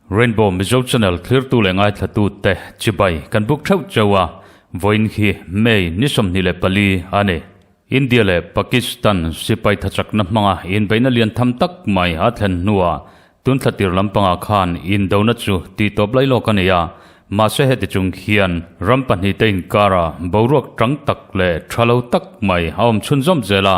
Rainbow Mizo Channel thlirtu leh ngaithlatu te chibai kan buk theuh chau a vawiin khi May ni sawmhnih leh pali a ni. India leh Pakistan sipai thachakna hmanga inbeihna lian tham tak mai a thlen hnua tun thla tir lampangah khan indona chu tihtawp lai lawk a ni a. Mahse heti chung hian ram pahnih te inkara boruak ṭang tak leh ṭha lo tak mai a awm chhun zawm zel a.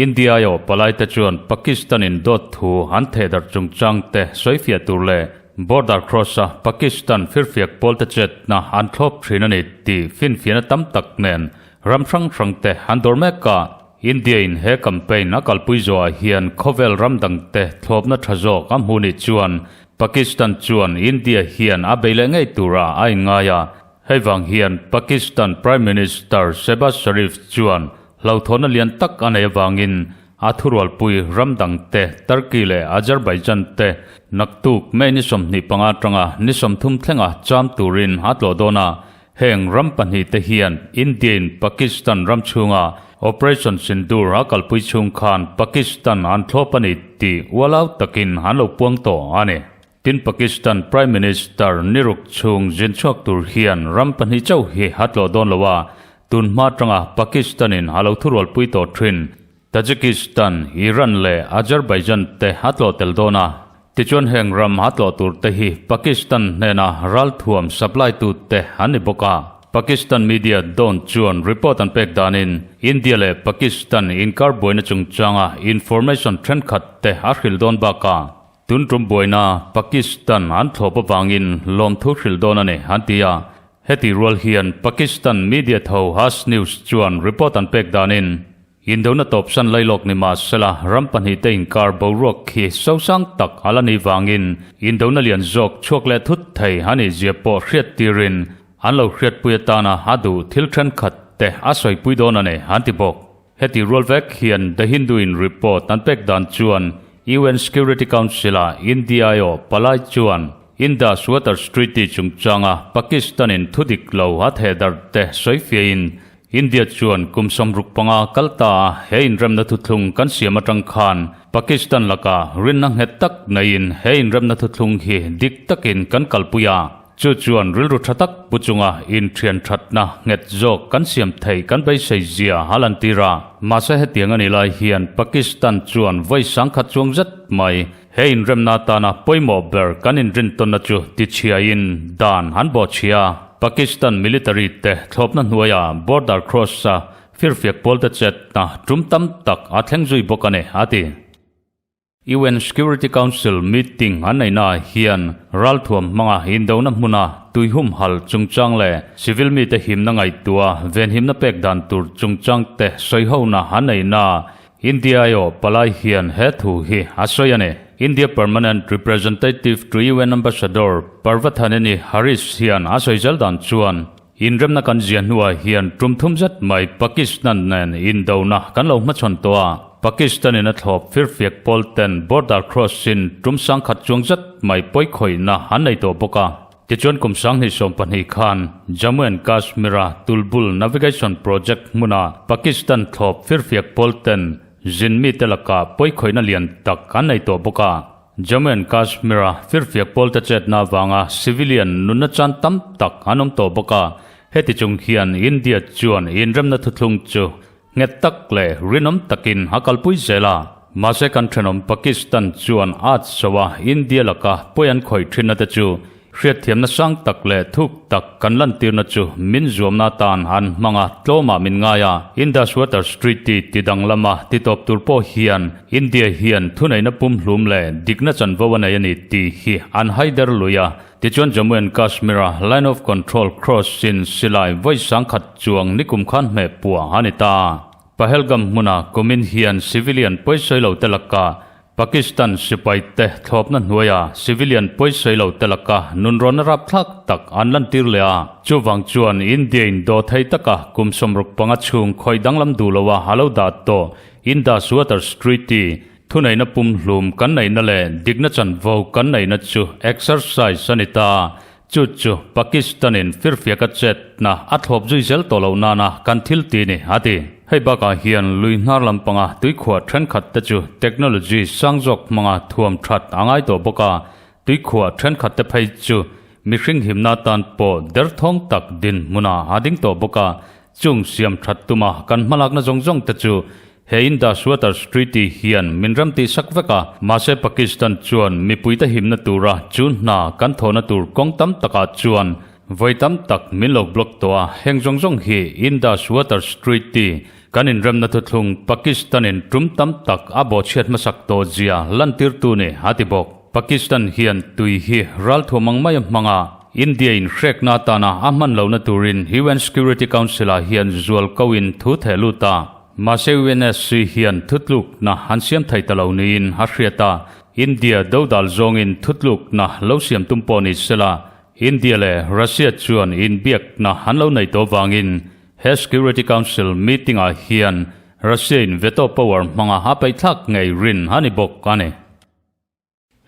India aiawh palai te chuan Pakistan in dawt thu an thehdarh chungchang te sawifiah tur leh border cross a Pakistan firfiak pawl te chetna an thlawp ṭhin a ni tih finfiahna tam tak nen Ram hrang hrangte an dawr mek a, India-in he campaign a kalpui zawhah hian khawvel ram dangte thlawpna tha zawk a hmuh nih chuan Pakistan chuan India hian a bei leh ngei tura a inngai a. Hei vang hian Pakistan Prime Minister Shehbaz Sharif chuan hlauthawhna lian tak a nei avangin a thurualpui ram dangte Turkey leh Azerbaijan te naktuk May ni sawmhnih panga atanga ni sawmthum thlenga cham turin a tlawh dawn a, Heng ram pahnih te hian India-in Pakistan ram chhunga Operation Sindoor a kalpui chhung khan Pakistan an thlawp a ni tih ualau takin an lo puang tawh a ni. Tin, Pakistan Prime Minister ni ruk chhung zin chhuak tur hian ram pahnih chauh hi a tlawh dawn lo a, tun hma atanga Pakistan-in a lo thurualpui tawh thin. Tajikistan, Iran leh Azerbaijan te a tlawh tel dawn a, tichuan heng ram a tlawh tur te hi Pakistan hnena ralthuam supply tu te an ni bawk a, Pakistan media dawn chuan report an pek danin India leh Pakistan inkar buaina chungchanga information thenkhat te a hrilh dawn baka tun tum buaina Pakistan an thlawp avangin lawmthu hrilh dawn a ni an ti a, heti rual hian Pakistan media tho Haass News chuan report an pek danin Indona tawpsan lailawk ni mah sela ram pahnihte inkar boruak khi sosang tak a la nih vangin indona lian zawk chhuak leh thut thei a nih ziah pawh hriat tirin an lo hriatpui atana a duh thil thenkhat te a sawipui dawn a ni an ti bawk. Heti rual vek hian The Hindu in report an pek dan chuan UN Security Council-a India-i-aw palai chuan Indus Water Treaty chungchanga Pakistan-in thudik lo a thehdarh te sawi fiahin India chuan kum sawm ruk panga kal ta a, he inremna thuthlung kan siam atang khan Pakistan laka rinna nghet tak neiin he inremna thuthlung hi dik takin kan kalpui a, chu chuan rilru tha tak pu chunga inthian thatna nghet zawk kan siam theih kan beisei zia a lan tir a. Mahse hetiang a nih lai hian Pakistan chuan vawi sangkhat chuang zet mai, He inremna atana pawimawh ber kan inrintawnna chu tichhiaiin dan han bawh chhia a. Pakistan military te thlawpna hnuaiah border cross a firfiak pawlte chetna tum tam tak a thleng zui bawk a ni, a ti. UN Security Council meeting an neihna ah hian ralthuam hmanga indona hmuna tuihum halh chungchang leh civil mite himna ngaihtuah venhimna pek dan tur chungchang te sawi hona an neihna ah India io palai hian he thu hi a sawi a ni. India Permanent Representative to UN Ambassador Parvathaneni Harish hian a sawi zel dan chuan inremna kan zia hnuah hian tum thum zet mai Pakistan nen indona kan lo hmachhawn tawh a, Pakistanin a thlawp firfiak pawl ten border cross-in tum sangkhat chuang zet mai pawi khawihna an nei tawh bawk a. Tichuan kum sanghnih sawm pahnih khan Jammu and Kashmira tulbul navigation project hmuna Pakistan thlawp firfiak pawlten zin mite lakah pawikhawihna lian tak an nei tawh bawk a. Jammu and Kashmira firfiak pawlte chetna avanga civilian nunna chan tam tak an awm tawh bawk a, heti chung hian India chuan inremna thuthlung chu Nghet tak leh rinawm takin a kalpui zel a, mahse kan thenawm Pakistan chuan art soa India laka pawi an khawih thinna te chu hriatthiamna sang tak leh thuk tak kan lantirna chu min zuamna atan an hmang a, tlawmah min ngai a, Indus Waters Treaty ti dang lama titawp tur pawh hian India hian thuneihna pumhlum leh dikna chanvo a nei a ni tih hi an haider lui a, Tichuan Jammu and Kashmir-a Line of Control cross sin silai vawi sangkhat chuang nikum khan hmeh puah a ni ta. Pahalgam hmuna kumin hian civilian pawisailote laka Pakistan sipaite thlawpna hnuaia civilian pawisailote laka nunrawna rapthlak tak an lantir leh a. Chuvang chuan India-in dawthei taka kum sawmruk panga chhung khawih danglam duhloa a lo dah tawh, Indus Waters Treaty, Thuneihna pumhlum kan neihna leh dikna chanvo kan neihna chu exercise a ni ta. Chu chu Pakistan-in firfiaka chetna a thlawp zui zel tawh loh nana kan thilti ni, a ti. Hei bakah hian lui hnar lampanga tuikhuah thenkhat te chu technology sang zawk hmanga thuam that a ngai tawh bawk a, tuikhuah thenkhat te phei chu mihring himna atan pawh derthawng tak dinhmunah a ding tawh bawk a, Chung siam that tuma kan hmalakna zawng zawng te chu he Indus Waters Treaty hian min ram tih sak vek a, mahse Pakistan chuan mipui te himna tura chu hna kan thawhna tur kawng tam taka chuan vawi tam tak min lo block tawh a, heng zawng zawng hi Indus Waters Treaty kan inremna thuthlung Pakistan in tum tam tak a bawhchhiat hmasak tawh zia lantirtu nih a ti bawk. Pakistan hian tui hi ralthuam mang mai a hmang a, India-in hrekna atana a hman lohna turin UN Security Council-ah hian zual koin thu theh lut a. Mahse UNSC hian thutlukna an siam thei ta lo niin a hriat a, India do dal zawngin thutlukna lo siam tum pawh ni sela, India leh Russia chuan inbiakna an lo nei tawh vangin he Security Council meeting-ah hian Russia-in veto power hmanga a peihthlak ngeirin a ni bawk a ni.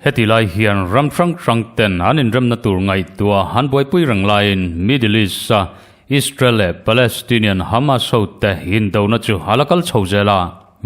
Heti lai hian ram hrang hrang ten an inremna tur ngaihtuah an buaipui reng laiin Middle East-a Israel leh Palestinian Hamas hote indona chu a la kal chho zel a.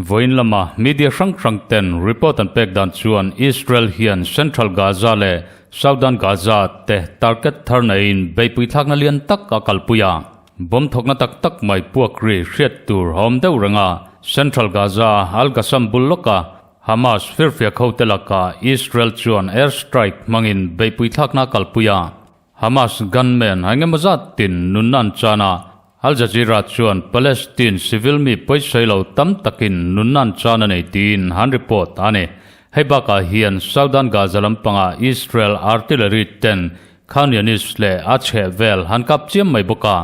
Vawiin lama media hrang hrang ten report an pek dan chuan Israel hian Central Gaza leh Southern Gaza te target thar naihin beipui thlakna lian tak a kalpui a. Bomb thawkna tak tak mai puakri hriat tur a awm deuh reng a, Central Gaza-a Al-Qassam bul lawka Hamas firfia khote lakah Israel chuan air strike hmangin beihpui thlakna a kalpui a. Hamas gunmen a engemaw zat tin nunna an chan a, Al Jazeera chuan Palestine civil mi pawisawi lo tam takin nunna an chan a nei tiin han report a ni. Hei bakah hian Southern Gaza lampanga Israel artillery ten Khan Younis leh a chhehvel han kap chiam mai bawk a.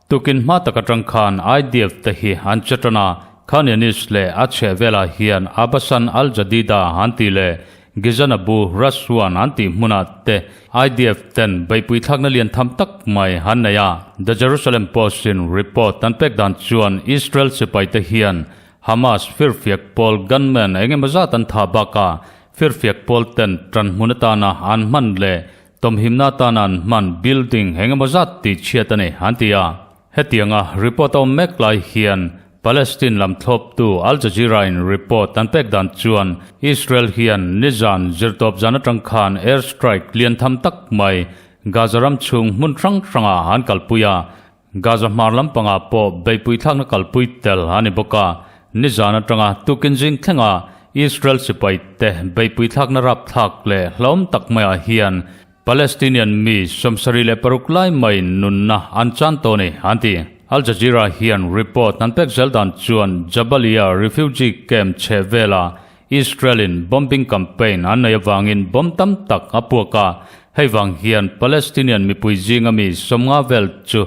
Tukin hma tak atang khan IDF te hi an che tan a, Khan Younis leh a chheh velah hian Abasan Al Jadida an tih leh Gizan Abu Raswan an tih hmunah te IDF ten beipui thlakna lian tham tak mai an nei a. The Jerusalem Post-in report an pek dan chuan Israel sipai te hian Hamas firfiak pawl gunmen eng emaw zat an tha bakah firfiak pawl ten tanhmun atana an hman leh Tumhimna atan an hman building engemaw zat tih chhiat a ni, an ti a. Hetianga report a awm mek lai hian Palestine lam thlawptu Al Jazeera-in report an pek dan chuan Israel hian nizan zirtawp zan atang khan air strike lian tham tak mai Gaza ram chhung hmun hrang hrangah an kalpui a, Gaza hmar lampangah pawh beipui thlakna kalpui tel a ni bawk a, nizan atanga tukin zing thlenga Israel sipaite beipui thlakna rapthlak leh hlawm tak maiah hian Palestinian mi sawmsarih leh paruk lai mai nunna an chan tawh a ni, an ti. Al Jazeera hian report han pek zel dan chuan Jabalia refugee camp chhehvela Israel-in bombing campaign an nei avangin bomb tam tak a puak a, hei vang hian Palestinian mipui zinga mi sawmnga vel chu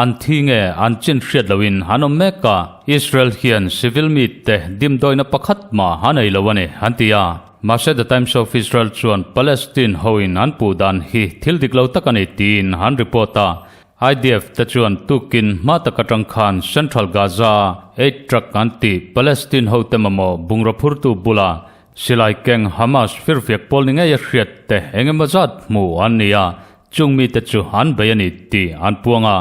an thi nge an chin hriat loin an awm mek a, Israel hian civil mite dimdawina pakhat hma a nei lo a ni, an ti a. Mahse The Times of Israel chuan Palestine hoin an puh dan hi thil dik lo tak a ni tiin an report a. IDF te chuan tukin hma taka tang khan Central Gaza a eight truck an tih Palestine hote mamawh bungraw phurtu bula silai keng Hamas firfiak pawl ni ngei a hriat te eng emaw zat hmuh an ni a, chung mite chu an bei a ni tih an puang a.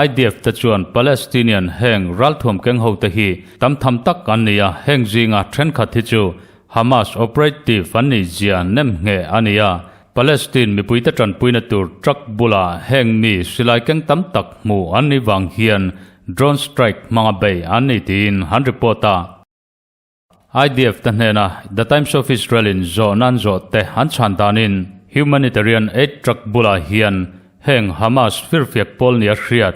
IDF te chuan Palestinian heng ralthuam keng hote hi tam tham tak an ni a, heng zinga thenkhat hi chu Hamas operative an nih zia nem nghe a ni a, Palestine mipuite tanpuina tur truck bula heng mi silai keng tam tak hmuh an nih vang hian drone strike hmanga bei an ni tiin han report a. IDF te hnena The Times of Israel-in zawh nan zawh te an chhan danin humanitarian aid truck bula hian heng Hamas firfiak pawl nia hriat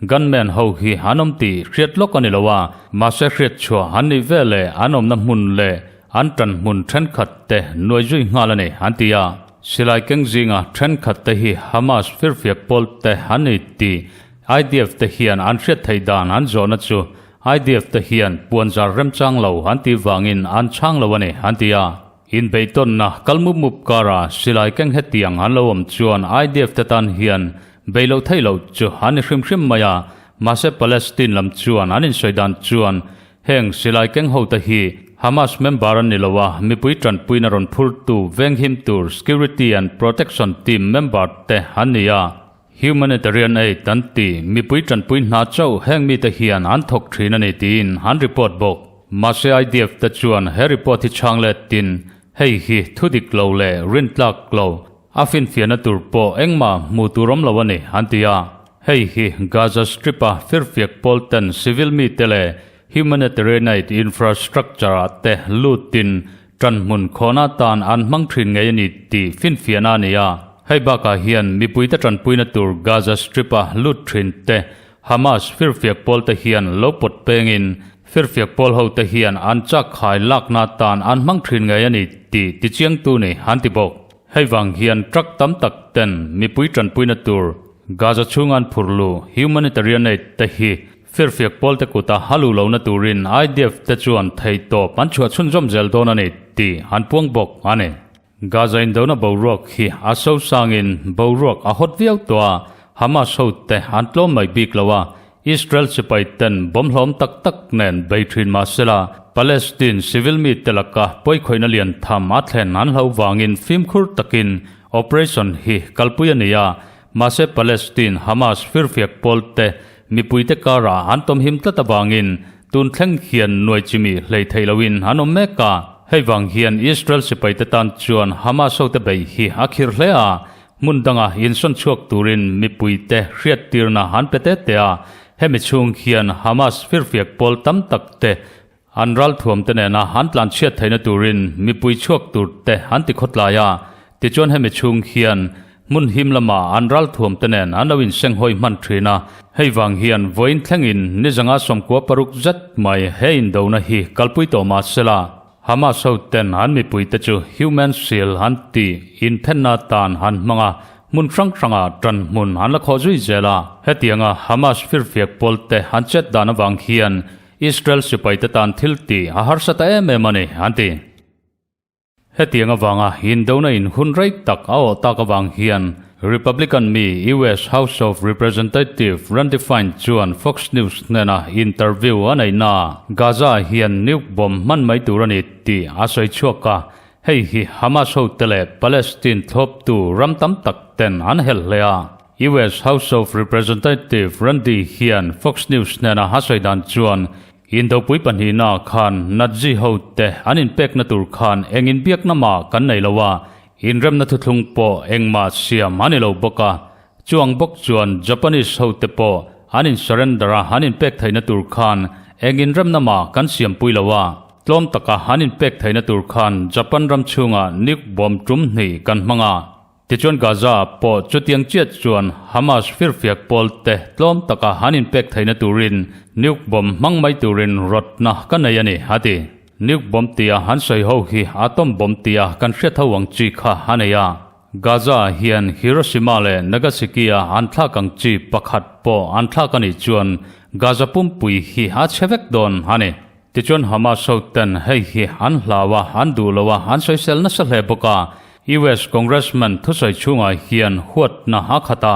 Gunman ho hi an awm tih hriat lawk a ni lo a, mahse hriat chhuah an nih vel e, an awmna hmun leh an tan hmun thenkhat te nuai zui nghal a ni, an ti a. Silai keng zinga thenkhat te hi Hamas firfiak pawl te an ni tih IDF te hian an hriat theih dan an zawhna chu IDF te hian puan zar remchang lo an tih vangin an chhang lo a ni, an ti a. Inbeihtawnna kal mup mup karah silai keng hetiang an lo awm chuan IDF te tan hian bei loh theih loh chu an ni hrim hrim mai a, mahse Palestine lam chuan an insawi dan chuan heng silai keng ho te hi Hamas member an ni lo a, mipui tanpuina rawn phurtu venghim tur Security and Protection Team member te an ni a. Humanitarian aid kan ti mipui tanpui hna chauh heng mite hian an thawk thin a ni tiin an report bawk. Mahse IDF te chuan he report hi chhang let tin hei hi thudik lo leh rintlak lo a finfiahna tur pawh engmah hmuh tur awm lo a ni an ti a. Hei hi Gaza Strip-a firfiak pawl ten civil mite leh humanitarian aid infrastructure-ah te lut tin tan hmun khawhna tan an hmang thin ngei a ni tih finfiahna a ni a. Hei bakah hian mipuite tanpuina tur Gaza Strip-a lut thin te Hamas firfiak pawlte hian lo pawt pengin firfiak pawl hote hian an chak khai lakna tan an hmang thin ngei a ni tih tichiangtu nih an ti bawk. Hei vang hian truck tam tak ten mipui tanpuina tur Gaza chhunga an phurh luh humanitarian aid te hi Firfiak pawlte kuta a luh lohna turin IDF te chuan thei tawp an chhuah chhun zawm zel dawn a ni tih an puang bawk a ni. Gaza indona boruak hi a so sangin boruak a hawt viau tawh a, Hamas hote an tlawm mai bik lo a, Israel sipai ten bawm hlawm tak tak nen bei thin mahsela, Palestine civil mite laka pawikhawihna lian tham a thlen an hlo vangin fimkhur takin operation hi kalpui a ni a, Mahse Palestine Hamas firfiak pawl te mipui te karah an tawmhim tlat avangin tun thleng hian nuai chi mi hlei theih lo in an awm mek a, hei vang hian Israel sipai te tan chuan Hamas ho te bei hi a khirh hle a, hmun danga insawn chhuak turin mipui te hriat tirna an pe te te a, hemi chhung hian Hamas firfiak pawl tam tak te An ralthuamte nena an tlan chhiat theihna turin mipui chhuak tur te an ti khawtlai a, tichuan hemi chhung hian hmun him lama an ralthuamte nen an lo inseng hawi hman thin a, hei vang hian vawiin thlengin nizanga sawmkua paruk zet mai he indona hi kalpui tawh mah sela Hamas hoten an mipuite chu human shield an tih inthenna atan an hmang a, hmun hrang hranga tan hmun an la khawh zui zel a, hetianga Hamas firfiak pawl te an chet dan avang hian Israel sipaite tan thil ti a harsa ta em em a ni, an ti. Hetiang avanga indona inhun rei tak a awh tak avang hian Republican mi US House of Representative Randy Fine chuan Fox News hnena interview a neihnaah Gaza-ah hian nuke bomb hman mai tur a ni tih a sawi chhuak a, hei hi Hamas hote leh Palestine thlawptu ram tam tak ten an hel hle a. US House of Representative Randi hian Fox News hnena a sawi dan chuan Indopui pahnihna ah khan Nazi ho te an inpekna tur khan eng inbiakna mah kan nei lo a, inremna thuthlung pawh engmah siam a ni lo bawk a, chuang bawk chuan Japanese ho te pawh an in surrender a an inpek theihna tur khan eng inremna mah kan siampui lo a, tlawm taka an inpek theihna tur khan Japan ram chhungah nuke bomb tum hnih kan hmang a. Tichuan Gaza pawh chutiang chiat chuan Hamas firfiak pawl te tlawm taka han inpek theihna turin nuke bomb hmang mai turin rawtna ka nei a ni, a ti. Nuke bomb tia han sawi ho hi atom bomb tia kan hriat ho ang chi kha a nei a. Gaza hian Hiroshima leh Nagasiki-a an thlak ang chi pakhat pawh an thlak a nih chuan Gaza pumpui hi a chhe vek dawn a ni. Tichuan Hamas hoten hei hi an hlau a, an duh lo a, an soisel nasa hle bawk a. US Congressman thusawi chhungah hian huatna a khat a,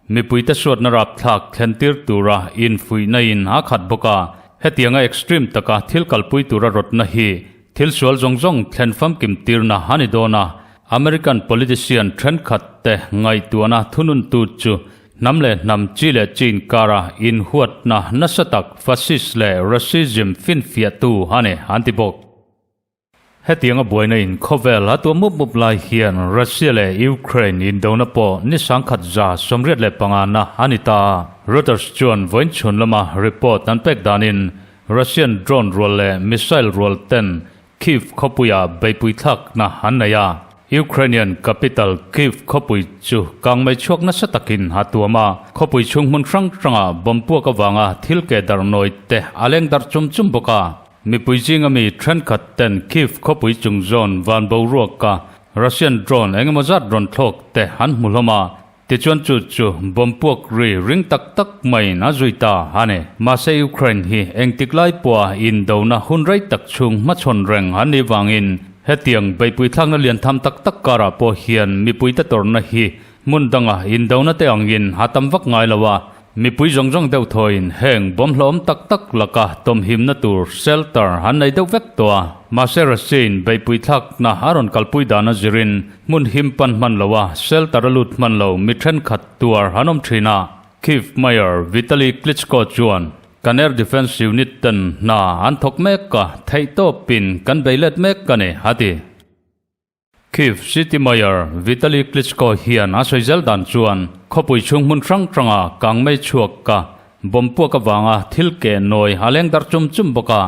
mipuite suatna rapthlak thlentir tura infuihnain a khat bawk a. Hetianga extreme taka thil kalpui tura rawtna hi thil sual zawng zawng thlen famkim tirna a ni dawn a, American politician thenkhatte ngaihtuahna thununtu chu. Hnam leh hnam, chi leh chi inkara, inhuatna nasa tak, fascist leh racism finfiahtu a ni, an ti bawk. Hetianga buaina in khawvel a tuam mup mup lai hian Russia leh Ukraine indona pawh ni sangkhat za sawmriat leh pangnganna a ni ta a. Reuters chuan vawiin chhun lama report an pek danin Russian drone rual leh missile rualten Kyiv khawpuia beipui thlakna an nei a, Ukrainian capital Kyiv khawpui chu kang mai chhuak nasa takin a tuam a. Khawpui chhung hmun hrang hranga bawm puak avanga thil ke dar nawi te a leng dar chum chum bawk a. Mipui zinga mi thenkhat ten Kyiv khawpui chung zawn van boruaka Russian drone engemaw zat rawn thlawk te an hmu hlawm a, Tichuan chu chu bawmpuak ri ring tak tak maiin a zui ta a ni. Mahse Ukraine hi engtik lai pawha indona hun rei tak chhung hmachhawn reng an nih vangin hetiang beipui thlakna lian tham tak tak karah pawh hian mipuite tawrhna hi hmun danga indona te angin a tam vak ngai lo a, Mipui zawng zawng deuh thawiin heng bawmhlawhawm tak tak laka tawmhimna tur, shelter, an nei deuh vek tawh a. Mahse Russia-in beihpui thlakna a rawn kalpui dan a zirin hmun him pan hman loh a, shelter a lut hman lo mi thenkhat tuar an awm thin a. Kyiv Mayor Vitaliy Klitschko chuan, Kan Air Defence Unit ten hna an thawk mek a, theihtawpin kan beilet mek a ni, a ti. Kyiv City Mayor Vitaliy Klitschko hian a sawi zel dan chuan khawpui chhung hmun hrang hranga kangmei chhuak ka, bomb puak avanga thil ke nawi a leng dar chum chum bawk a.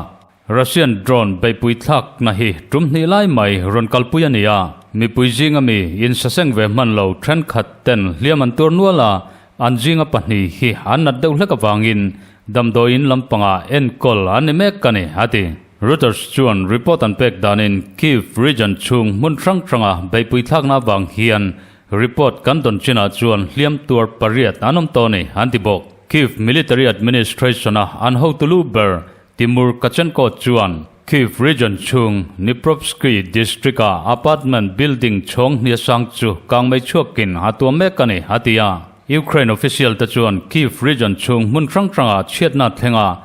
Russian drone beihpui thlakna hi tum hnih lai mai rawn kalpui a ni a, mipui zinga mi insaseng ve hman lo thenkhat ten hliam an tur nual a, An zinga pahnih hi an nat deuh hlek avangin damdawi in lampanga enkawl an ni mek a ni, a ti. Reuters chuan report an pek danin Kyiv region chhung hmun hrang hranga beipui thlakna avang hian report kan dawn chinah chuan hliam tuar pariat an awm tawh a ni, an ti bawk. Kyiv Military Administration-a an hotu lu ber Timur Kachankot chuan Kyiv Region chhung Dniprovsky District-a apartment building chhawng hniasang chu kang mai chhuakin a tuam mek a ni, a ti a. Ukraine official-te chuan Kyiv Region chhung hmun hrang hranga chhiatna thlenga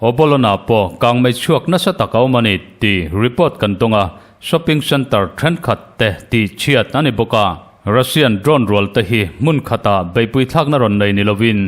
Obolona pawh kang mai chhuak nasa tak a awm a ni tih report kan dawng a, shopping centre thenkhat te tih chhiat a ni bawk a. Russian drone rualte hi hmun khatah beipui thlakna rawn nei ni lovin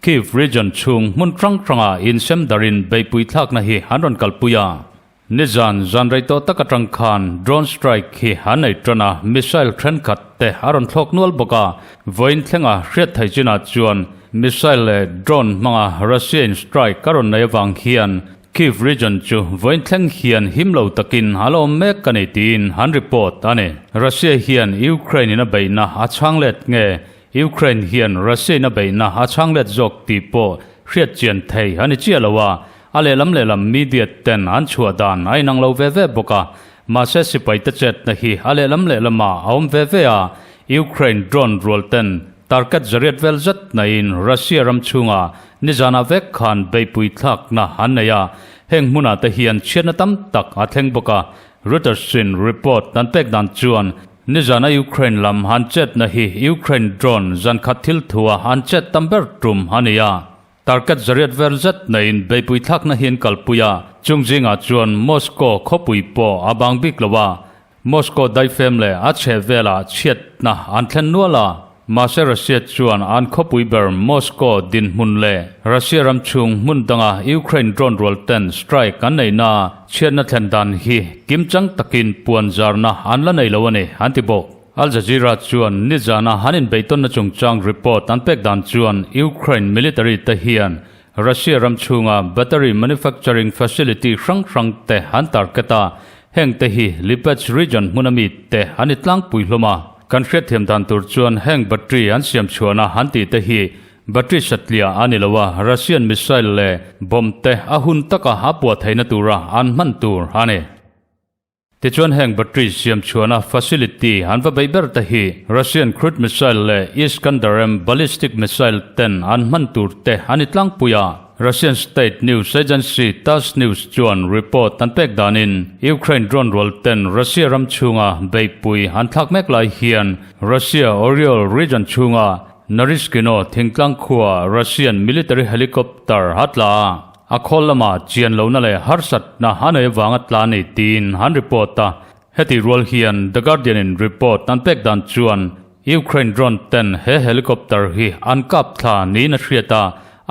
Kyiv region chhung hmun hrang hranga insem darin beipui thlakna hi an rawn kalpui a. Nizan zan rei tawh tak atang khan drone strike hi an nei tan a, missile thenkhat te a rawn thlawk nual bawk a. Vawiin thlenga hriatthei chinah chuan missile leh drone hmanga Russia-in strike a rawn nei avang hian Kyiv region chu vawiin thleng hian him lo takin a lawm mek a ni tiin an report a ni. Russia hian Ukraine-in a beihna a chhang let nge Ukraine hian Russia-in a beihna a chhanglet zawk tih pawh hriatchian thei a ni chiah lo a, a lehlam lehlam media ten an chhuah dan a inang lo ve ve bawk a, mahse sipaite chetna hi a lehlam lehlamah a awm ve ve a, Ukraine drone rual ten target zariat vel zet nain Russia ram chhunga nizanah vek khan beihpuithlakna an nei a, heng hmunah te hian chhiatna tam tak a thleng bawk a, Reuters in report kan pek dan chuan nizan a Ukraine lam han chetna hi Ukraine drone zan khat thil thua an chet tam ber tum a ni a, target zariat vel zet neiin beipui thlakna hi an kalpui a, chung zingah chuan Moscow khawpui pawh a bang bik lo a, Moscow daifem leh a chheh velah chhiatna an thlen nual a. Mahse Russia chuan an khawpui ber Moscow dinhmun leh Russia ram chhung hmun danga Ukraine drone rual ten strike an neihna chhiatna thlen dan hi kim chang takin puan zarna an la nei lo a ni an ti bawk. Al Jazeera chuan nizana an inbeihtawnna chungchang report an pek dan chuan Ukraine military te hian Russia ram chhunga battery manufacturing facility hrang hrang te an target a, heng te hi Lipetsk region hmuna mi te an i tlangpui hlawm a. Kan hriatthiam dan tur chuan heng battery an siam chhuahna han tih te hi battery satlia a ni lo a, Russian missile leh bomb te a hun taka a puahtheihna tura an hman tur a ni. Tichuan heng battery siamchhuahna facility an va beih ber te hi Russian crude missile leh Iskander-M ballistic missile ten an hman tur te a ni tlangpui a, Russian state news agency Tass News chuan report an pek danin Ukraine drone rual ten Russia ram chhunga beihpui an thlak mek lai hian Russia Oryol region chhunga Naryshkino thingtlang khuaa Russian military helicopter a tla a. A khawl lama chian lohna leh harsatna a nei avanga tla a ni tiin han report a. Heti rual hian The Guardian-in report an pek dan chuan Ukraine drone-ten he helicopter hi an kap thla niin a hriat a,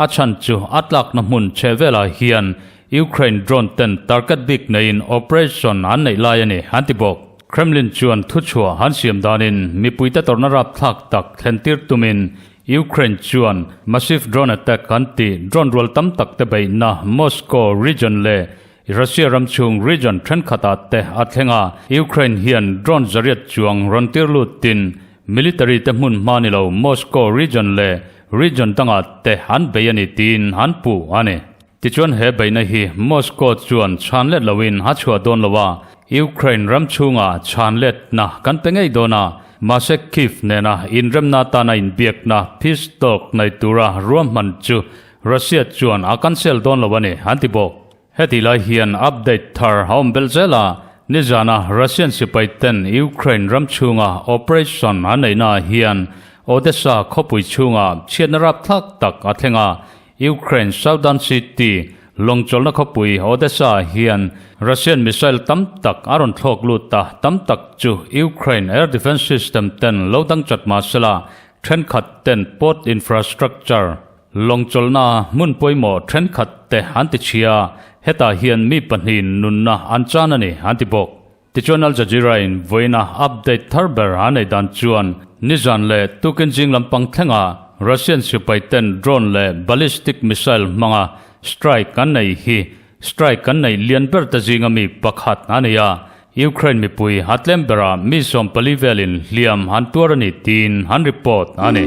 a chhan chu a tlakna hmun chhe velah hian Ukraine drone-ten target bik neiin operation an neih lai a ni an ti bawk. Kremlin chuan thuchhuah han siam danin mipuite tawrhna rapthlak tak thlentir tumin Ukraine chuan massive drone attack an ti, drone rual tam tak te beihna Moscow region leh Russia ram chhung region thenkhatah te a thleng a, Ukraine hian drone zariat chuang rawn tir lut tin military te hmun hma ni lo Moscow region leh region dangah te an bei a ni tiin an puh a ni. Tichuan he beihna hi Moscow chuan chhan let loin a chhuah dawn lo a, Ukraine ram chhunga chhan letna kan pe ngei dawn a, mahse Kyiv nena inremna atana inbiakna peace talk nei tura ruahman chu Russia chuan a cancel dawn lo a ni, an ti bawk. Heti lai hian update thar a awm vel zel a, nizana Russian sipai ten Ukraine ram chhunga operation an neihnaah hian Odessa khawpui chhunga chhiatna rapthlak tak a thleng a, Ukraine southern city lawng chawlhna khawpui Odessa-ah hian Russian missile tam tak a rawn thlawk lut a, tam tak chu Ukraine air defence system-ten lo dang chat mahsela, thenkhatten port infrastructure lawng chawlhna hmun pawimawh thenkhatte an tichhia a, hetah hian mi pahnihin nunna an chan a ni, an ti bawk. Tichuan Al Jazeera-in vawiina update thar ber a nei dan chuan nizan leh tukin zing lampang thlengah Russian sipaiten drone leh ballistic missile hmanga strike an nei hi strike kan neih lian ber ta zinga mi pakhat a ni a, Ukraine mipui a tlem berah mi sawm pali velin hliam an tuar a ni tiin an report a ni.